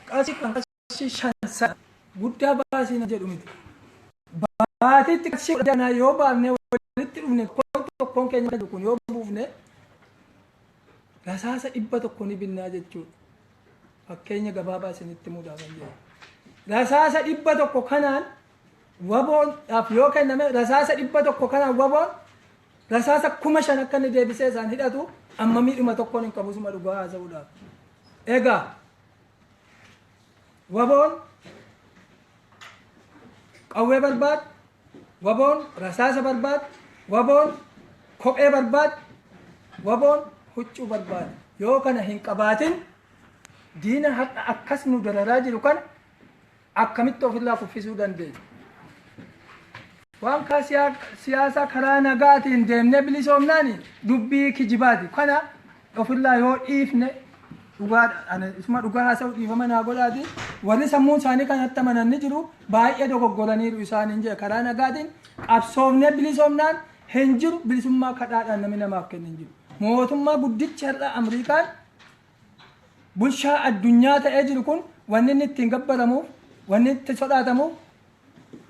qarshii kudhan qarshii shan sana guddaa baasii na jedhu miti. Baatiitti qarshii kudha kana yoo baafnee walitti dhufne tokkoon tokkoon keenya akka jiru kun yoo buufne rasaasa dhibba tokko ni binnaa jechuudha. Fakkeenya gabaabaa isinitti muudhaa kan jedhu. Rasaasa dhibba tokko kanaan waboodhaaf yoo kenname rasaasa dhibba tokko kanaan waboon Rasaasa kuma shan akka inni deebisee isaan hidhatu amma miidhuma tokkoon hin qabu suma dhugaa haasa'uudhaaf. Egaa waboon qawwee barbaad, waboon rasaasa barbaad, waboon kophee barbaad, waboon huccuu barbaad. Yoo kana hin qabaatin diina har'a akkas nu dararaa jiru kana akkamitti ofirraa kuffisuu dandeenya? Waan siyaasaa karaa nagaatiin deemnee bilisoomnaan dubbii kijibaati. Kana ofirraa yoo dhiifne isuma dhugaa haasa'u dhiifama naa godhaati. Warri sammuun isaanii kan hattamanan ni jiru baay'ee dogoggoraniiru isaan hin jedhe karaa nagaatiin qabsoofnee bilisoomnaan hin jiru bilisummaa kadhaadhaan namni namaaf kennu hin jiru. Mootummaa guddichi har'a Amriikaan Bulchaa addunyaa ta'ee jiru kun wanni inni ittiin gabbaramuuf, wanni itti sodaatamuuf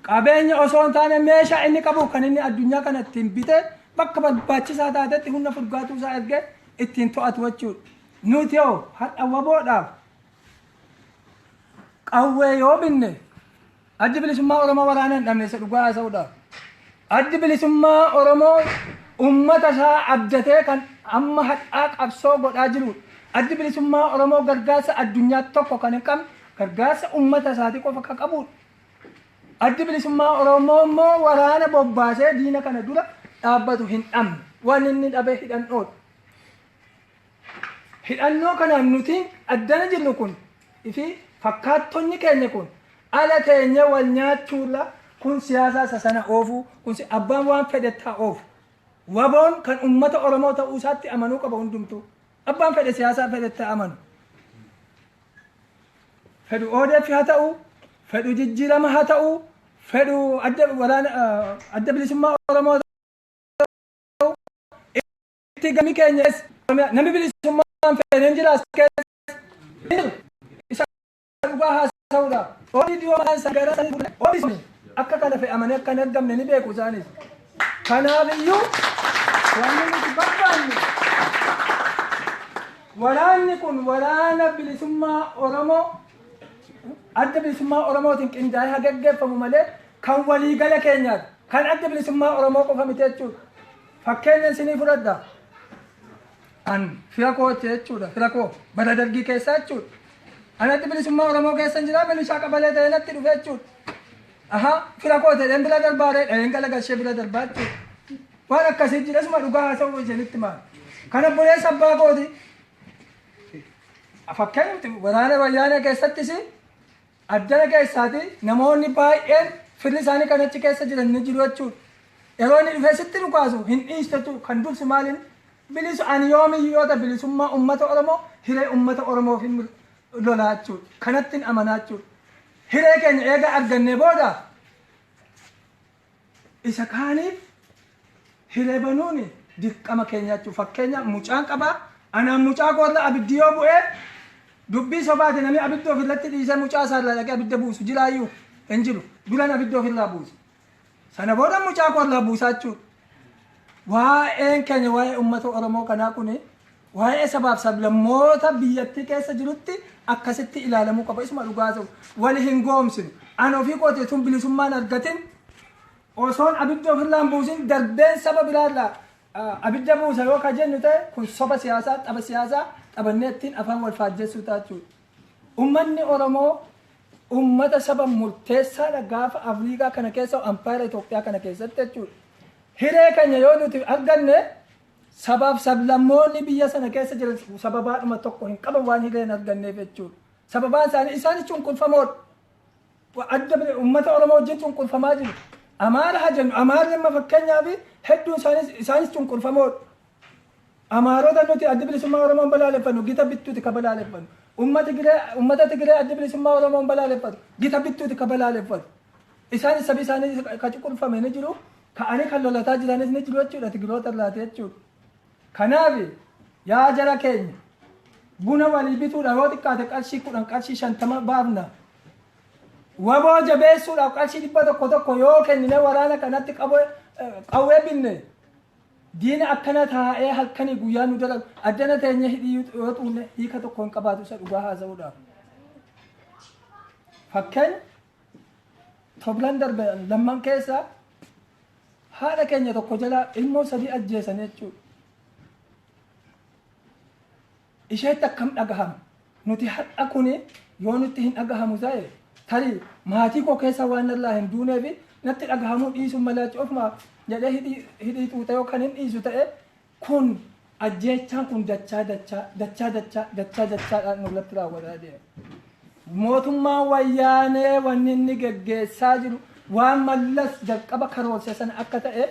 qabeenya osoo hin taane meeshaa inni qabuuf kan inni addunyaa kana ittiin bitee bakka barbaachisaa taatetti humna furgaatuu isaa ergee ittiin to'atu jechuudha. Nuti hoo har'a waboodhaaf qawwee yoo binne Addi Bilisummaa Oromoo waraana hin dhabne isa dhugaa haasa'uudhaaf. Addi Bilisummaa Oromoo uummata isaa abdatee kan amma hadhaa qabsoo godhaa jiruudha. Addi Bilisummaa Oromoo gargaarsa addunyaa tokko kan hin qabne gargaarsa uummata isaatii qofa kan qabuudha. Addi Bilisummaa Oromoo immoo waraana bobbaasee diina kana dura dhaabbatu hin dhabne. Waan inni dhabe hidhannoodha. Hidhannoo kanaan nuti addana jirru kun fi fakkaattonni keenya kun ala teenyee wal nyaachuurra kun siyaasaa isa sana oofuu kun si- abbaan waan fedhettaa oofu. Waboon kan ummata Oromoo ta'uu isaatti amanuu qaba hundumtuu. Abbaan fedhe siyaasaa fedhettaa amanu. fedhu ODF haa ta'u, fedhu jijjiirama haa ta'u, fedhu adda waraana ah, adda bilisummaa Oromoo haa ta'u, itti gami keenya keessa Oromiyaa namni bilisummaan feeneen jira as keessa hin jiru. Isa dhugaa haasa'uudha. Oolii dhiyoo mataan isaa gara sanii gurguree oolii sun akka kana fe'amanii akka hin argamne ni beeku isaanis. Kanaaf iyyuu wanni nuti barbaanne waraanni kun waraana bilisummaa Oromoo adda bilisummaa Oromootiin qindaa'ee haa gaggeeffamu malee kan waliigala keenyaati. Kan adda bilisummaa Oromoo qofa miti jechuudha. Fakkeenya isinii fudhadha. An fira kooti jechuudha. Fira koo bara dargii keessaa jechuudha. Anatti bilisummaa Oromoo keessa hin jiraa milishaa qabalee ta'ee natti dhufe jechuudha. Aha fira koo ta'een bira darbaaree dhaheen gala gashee bira darbaa jechuudha. Waan akkasii jira suma dhugaa haasa'uu isinitti maal. Kana buleessa abbaa kooti. Fakkeenyatti waraana wayyaanee keessattis Addana keessaati namoonni baay'een firri isaanii kan achi keessa jiran ni jiru jechuudha. Yeroo inni dhufee sitti dhukaasu hin dhiistu jechuudha. Kan dursu maaliin bilisu ani yoomiyyuu yoo ta'e bilisummaa uummata Oromoo hiree uummata Oromoof hin lolaa jechuudha. Kanattin amanaa jechuudha. Hiree keenya eega argannee booda Isa kaaniif hiree banuun dirqama keenya jechuudha. Fakkeenyaaf mucaan qabaa, anaan mucaa koo irra abiddi yoo bu'e dubbii sobaati namni abidda ofirratti dhiisee mucaa isaa irraa dhaqee abidda buusu jiraayyuu hin jiru. Duran abidda ofirraa buusa. Sana booda mucaa koo irraa buusaa jechuudha. Waa'een keenya waa'ee uummata Oromoo kanaa kuni Waa'ee sabaaf sablammoota biyyattii keessa jirutti akkasitti ilaalamuu qaba. Isuma dhugaa haasa'u. Wal hin goomsinu. Ani ofii kootii utuun bilisummaa hin argatin, osoon abidda ofirraa hin buusin darbeen saba biraa irraa ah, abidda buusa yoo ka jennu ta'e kun soba siyaasaa, tapha siyaasaa taphannee ittiin afaan wal faajjessuu ta'a jechuudha. Ummanni Oromoo ummata saba murteessaadha gaafa Afriikaa kana keessa ampaayera Itoophiyaa kana keessatti jechuudha. Hiree keenya yoo nuti arganne Sabaaf sablammoonni biyya sana keessa jiran sababaadhuma tokko hin qaban waan hiree hin arganneef jechuudha. Sababaan isaanii isaanis cunqurfamoodha. Adda bile- uummata Oromoo wajjin cunqurfamaa jiru. Amaara haa jennu Amaarri amma fakkeenyaaf hedduun isaanis isaanis cunqurfamoodha. Amaarota nuti adda bilisummaa Oromoon balaaleffannu gita bittuuti ka balaaleffannu. Uummata Tigiree uummata Tigiree adda bilisummaa Oromoon balaaleffatu gita bittuuti ka balaaleffatu. Isaanis sabi isaanii ka cunqurfame ni jiru. ka'anii kan lolataa jiranis ni jiru jechuudha Tigiroota irraati jechuudha. Kanaaf yaa jara keenya buna walii bituudhaaf yoo xiqqaate qarshii kudhan qarshii shantama baafna. Waboo jabeessuudhaaf qarshii dhibba tokko tokko yoo kennine waraana kanatti qaboo- eh, qawwee binne diina akkana taa'ee halkanii guyyaa nu dalagu addana teenya hidhii yoo xuunne hiika tokko hin qabaatu isa dhugaa haasa'uudhaaf. Fakkeenya Toblan darbe lamman keessa haadha keenya tokko jalaa ilmoo sadii ajjeesan jechuudha. Isheetti akkam dhagahama? Nuti har'a kun yoo nutti hin dhagahamu ta'e tarii maatii koo keessa waan narraa hin duuneef natti dhagahamuu dhiisuun malaachi ofuma jedhee hidhii xuuxee yookaan hin dhiisu ta'e Kun, ajjeechaan kun dachaa dachaa, dachaa dachaa, dachaa dachaadhaan nurratti raawwataa deema. Mootummaan Wayyaanee wanni inni geggeessaa jiru waan Mallas jalqaba karoorse sana akka ta'e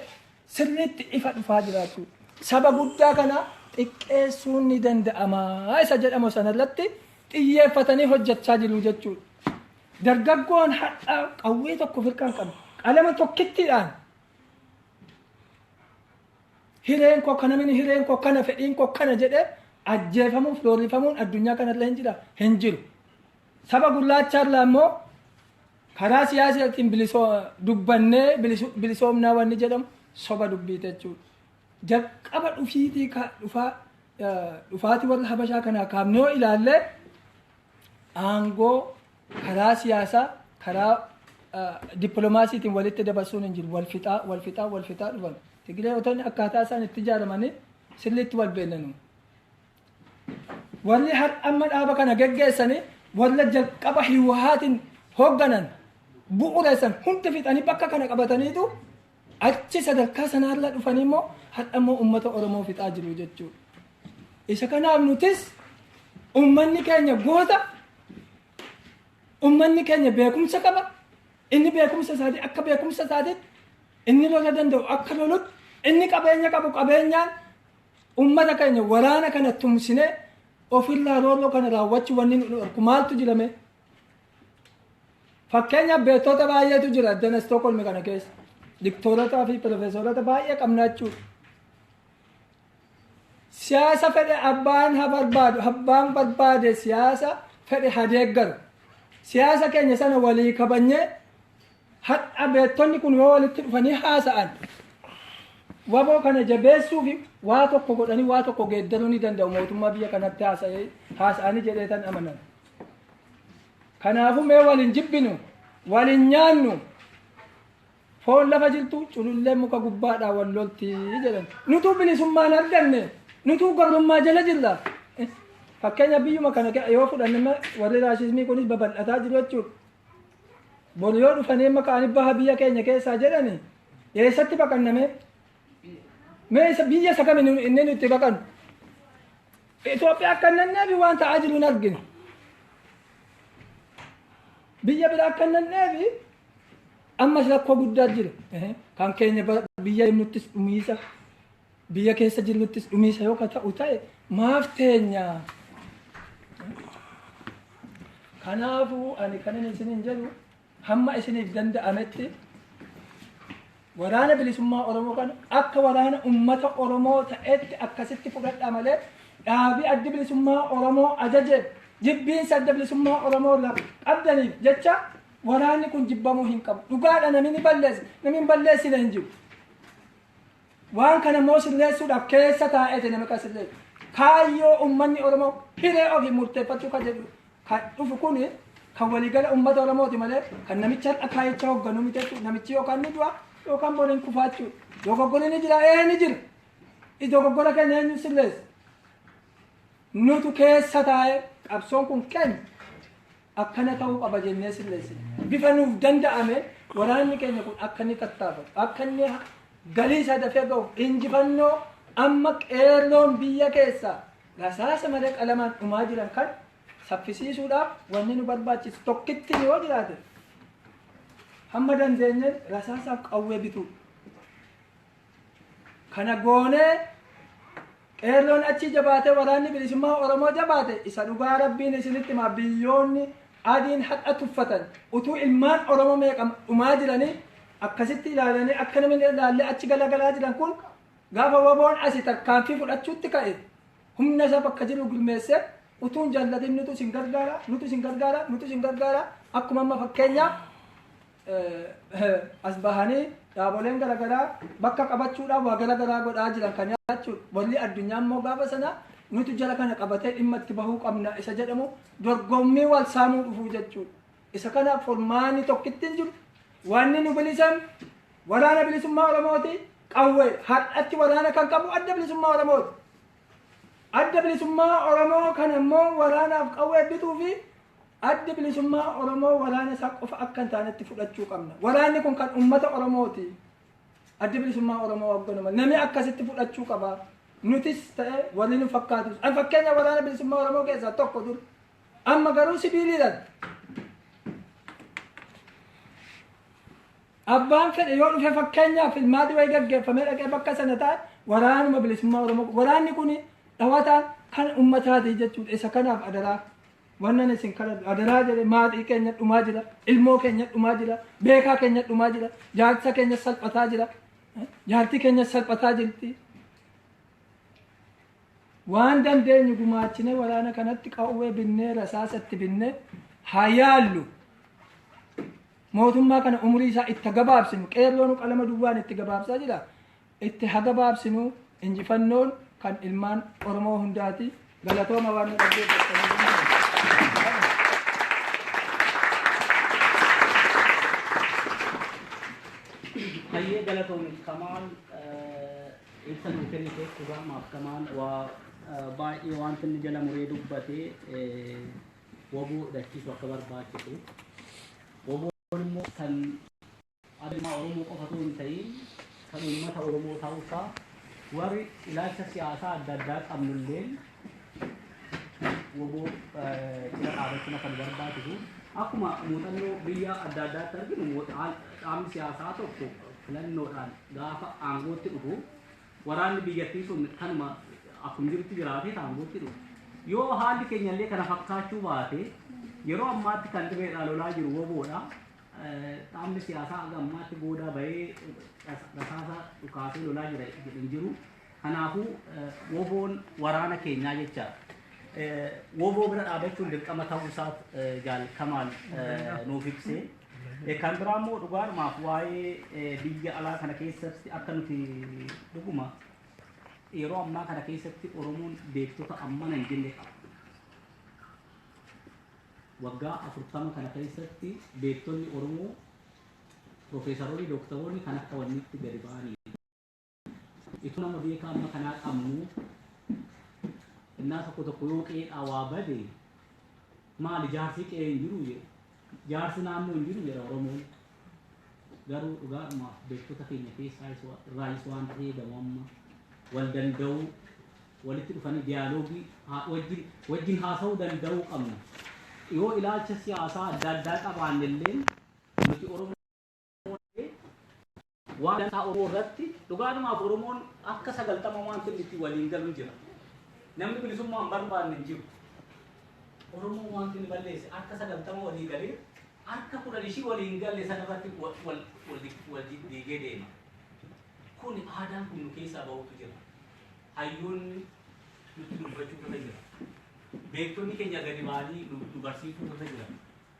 sirriitti ifa dhufaa jiraachuu saba guddaa kana xiqqeessuun ni danda'ama isa jedhamu sana irratti xiyyeeffatanii hojjechaa jiru jechuudha. Dargaggoon har'aa qawwee tokko firkaan qabu qalama tokkittiidhaan Hireen koo kana mini hireen koo kana fedhiin koo kana jedhee ajjeefamuuf doorrifamuun addunyaa kanarra hin jira hin jiru. Saba gurraachaarraa immoo karaa siyaasaatiin bilisoo dubbannee bilisu- bilisoomnaa wanni jedhamu soba dubbiite jechuudha. Jalqaba dhufiitii ka- dhufaa eh, dhufaatii warra habashaa kanaa kaafnee yoo ilaallee aangoo karaa siyaasaa karaa dippiloomaasiitiin walitti dabarsuun hin jiru. Wal fixaa, wal fixaa, wal fixaa dhufan. Tigireewotonni akkaataa isaan itti ijaaramanii sirriitti wal beennanu. Warri har amma dhaaba kana geggeessanii warra jalqaba hiwahaatiin hoogganan bu'uureessan hundi fixanii bakka kana qabataniitu Achi sadarkaa sanaarra dhufanii immoo har'a immoo uummata Oromoo fixaa jiru jechuudha. Isa kanaaf nutis uummanni keenya goota, uummanni keenya beekumsa qaba, inni beekumsa isaatii akka beekumsa isaatiitti, inni lola danda'u akka lolutti, inni qabeenya qabu qabeenyaan uummata keenya waraana kana tumsinee ofirraa roorroo kana raawwachuu wanni nu dhorku maaltu jirame? Fakkeenyaaf beektota baay'eetu jira addana Stookholmi kana keessa. Diktoorotaa fi piroofeesorota baay'ee qabna jechuudha. Siyaasa fedhe abbaan ha barbaadu, abbaan barbaade siyaasa fedhe ha deeggaru. Siyaasa keenya sana walii kabanyee hadha beektonni kun yoo walitti dhufanii haasa'an waboo kana jabeessuu fi waa tokko godhanii waa tokko geeddaruu ni danda'u mootummaa biyya kanatti haasa'ee haasa'anii jedhee tan amanan. Kanaafuu mee wal hin jibbinu, wal hin nyaannu. Foon lafa jirtu culullee muka gubbaadhaa wal lolti jedhan. Nutuu bilisummaa hin arganne, nutuu gabrummaa jala jirra. Fakkeenya biyyuma kana ke- yoo fudhanne ma- warri raashismii kunis babal'ataa jiru jechuudha. Bor yoo dhufanii amma ka'anii baha biyya keenya keessaa jedhani eessatti baqanname? Mee isa biyya isa kamiin inni nuti baqannu? Itoophiyaa akka hin nanneefi waan ta'aa jiru hin argine. Biyya biraa akka hin nanneefi ammas rakkoo guddaa jira. Kan keenya biyya deemnuttis dhumiisa, biyya keessa jirruttis dhumiisa yoo ka ta'u ta'e maaf teenya? Kanaafuu ani kanan isiniin jedhu Hamma isiniif danda'ametti Waraana Bilisummaa Oromoo kana akka waraana ummata Oromoo ta'etti akkasitti fudhadhaa malee dhaabii addi bilisummaa Oromoo ajajeef jibbiinsa adda bilisummaa Oromoo irraa qabdaniif jecha waraanni kun jibbamuu hin qabu. Dhugaadha namni balleesse, namni balleessine hin jiru. Waan kana immoo sirreessuudhaaf keessa taa'eeti nama kan sirreessu. Kaayyoo uummanni Oromoo hiree ofiin murteeffachuu kan jedhu kan dhufu kun kan waliigala uummata Oromooti malee kan namichi har'a kaayicha hoogganuu miti jechuudha. Namichi yookaan ni du'a yookaan boriin kufaa jechuudha. Dogoggorri ni jira ee ni jira. Dogoggora keenya eenyu sirreessa? Nutu keessa taa'ee qabsoon kun keenya. Akkana ta'uu qaba jennee sirreessina. Bifa nuuf danda'ameen waraanni keenya kun akka inni tattaafatu, akka inni galii isaa dafee ga'uuf injifannoo amma qeerroon biyya keessaa rasaasa malee qalamaan dhumaa jiran kan saffisiisuudhaaf wanni nu barbaachisu tokkittiin yoo jiraate hamma dandeenyeen rasaasaaf qawwee bituudha. Kana goonee qeerroon achii jabaatee waraanni bilisummaa Oromoo jabaate isa dhugaa rabbiin isinitti hima biyyoonni adiin har'a tuffatan utuu ilmaan Oromoo meeqa dhumaa jiranii akkasitti ilaalanii akka namni ilaallee achi galagalaa jiran kun gaafa waboon asi tarkaanfii fudhachuutti ka'e humna isa bakka jiru gurmeessee utuun jaallatin nutu isin gargaara nutu isin gargaara nutu isin gargaara akkuma amma fakkeenyaaf as bahanii dhaaboleen garagaraa bakka qabachuudhaan waa garagaraa godhaa jiran kan nyaachuun walli addunyaa immoo gaafa sana nutu jara kana qabatee dhimma itti bahuu qabna isa jedhamu dorgommii wal saamuu dhufuu jechuudha. Isa kana furmaanni tokkittiin jiru wanni nu bilisan waraana bilisummaa Oromooti qawwee har'atti waraana kan qabu adda bilisummaa Oromooti. Adda bilisummaa Oromoo kana immoo waraanaaf qawwee bituu fi Addi Bilisummaa Oromoo waraana isaa qofa akka hin taanetti fudhachuu qabna. Waraanni kun kan uummata Oromooti. Addi Bilisummaa Oromoo hoogganama. Namni akkasitti fudhachuu qaba. Nutis ta'e warri nu fakkaatus. An fakkeenya waraana Bilisummaa Oromoo keessaa tokko dur. Amma garuu sibiiliidhaan. Abbaan fedhe yoo dhufe fakkeenyaaf ilmaati wayii gaggeeffamee dhaqee bakka sana taa'e waraanuma Bilisummaa Oromoo. Waraanni kun dhawataan kan uummataati jechuudha. Isa kanaaf adaraa. Wannan isin kadhadhu adaraa jedhe maatii keenya dhumaa jira, ilmoo keenya dhumaa jira, beekaa keenya dhumaa jira, jaarsa keenya salphataa jira, jaartii keenya salphataa jirti. Waan dandeenyu gumaachine waraana kanatti qawwee binnee rasaasa itti binnee haa yaallu. Mootummaa kana umurii isaa itti gabaabsinu qeerroon qalama duwwaan itti gabaabsaa jira. Itti hagabaabsinu injifannoon kan ilmaan oromoo hundaati galatooma waan nu dhaggeeffattaniif. Hayyee galatoomi Kamaal ibsa nuu kenniteef dhugaa maaf Kamaal waa baay'ee wanti inni jala muree dubbate waboo hidhachiisu akka barbaachisu waboon immoo kan Abiy ilmaa Oromoo qofa utuu hin ta'iin kan uummata Oromoo ta'uu isaa warri ilaalcha siyaasaa adda addaa qabnu illeen wbo cina dhaabachuun akka nu barbaachisu akkuma muuxannoo biyya adda addaatti arginu dhaabni siyaasaa tokko filannoodhaan gaafa aangootti dhufu waraanni biyyattii sun kanuma akkuma jirutti jiraatee aangootti dhufu yoo haalli keenya illee kana fakkaachuu baate yeroo ammaatti kan dirreedhaa lolaa jiru woboodha Dhaabni siyaasaa haga ammaatti boodaa bahee rasaasa dhukaasee lolaa jira jedhe hin jiru. Kanaafuu woboon waraana keenyaa jecha woboo bira dhaabachuun dirqama ta'uu isaaf jaal Kamaal nuuf ibse. Kan biraa immoo dhugaadhumaaf waa'ee biyya alaa kana keessatti akka nuti dhuguma yeroo ammaa kana keessatti Oromoon beektota ammana hin jenne qaba. Waggaa 40 kana keessatti beektonni Oromoo, Pirofeesaroonni, Dooktaroonni kan akka wanniitti gadi ba'anii fi itoo nama beekaa amma kanaa qabnuu innaa tokko tokko yoo qe'eedhaa waa bade maali jaarsi qe'ee hin jiru jedhu. Jaarsi naannoo hin jiru jedha Oromoon. Garuu dhugaadhuma beektota keenya keessaa irraayis waanti eegamu amma wal danda'uu walitti dhufanii diyaaloogii wajjin wajjin haasa'uu danda'uu qabna. Yoo ilaalcha siyaasaa adda addaa qabaanne illee nuti Oromoo waan dantaa Oromoo irratti dhugaadhumaaf Oromoon akka sagaltama waanti inni itti waliin galu jira. Namni bilisummaan barbaanne hin jiru. Oromoo waanti inni balleesse akka sagaltama walii galee Harka kudhan ishii walii hin galle sana irratti wal diddiigee deema. Kuni aadaan kun nu keessaa bahuutu jira. Hayyoonni nutti dubbachuutu irra jira. Beektonni keenya gadi ba'anii nu barsiisuutu irra jira.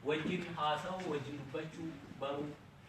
Wajjin haasa'uu, wajjin dubbachuu, baruu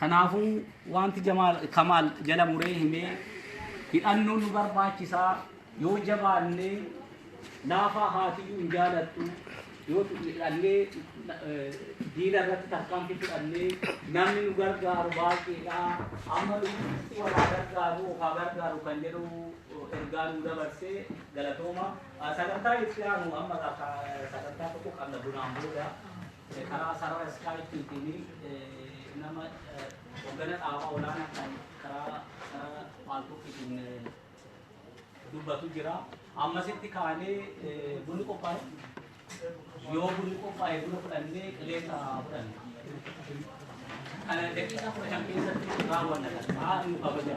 Kanaafuu wanti Jamaal Kamaal jala muree himee hidhannoo nu barbaachisaa yoo jabaannee laafaa haatiyyuu hin jaalattu yoo hidhannee diina irratti tarkaanfii fudhannee namni nu gargaaru baay'eedha amma lubbuutti walaa gargaaru ofaa gargaaru kan jedhu ergaa nu dabarse galatooma sagantaa itti aanu amma sagantaa tokko qabna bunaan booda. Karaa sarara Skype tiin nama hoggana dhaabaa olaanaa kan karaa sarara paaltook tiin dubbatu jira. Amma asitti kaanee bunni qophaa'e? Yoo bunni qophaa'e buna fudhannee qilleensa fudhanna. Kana daqiiqaa kudha shan keessatti raawwanna. Haa nu kabaja.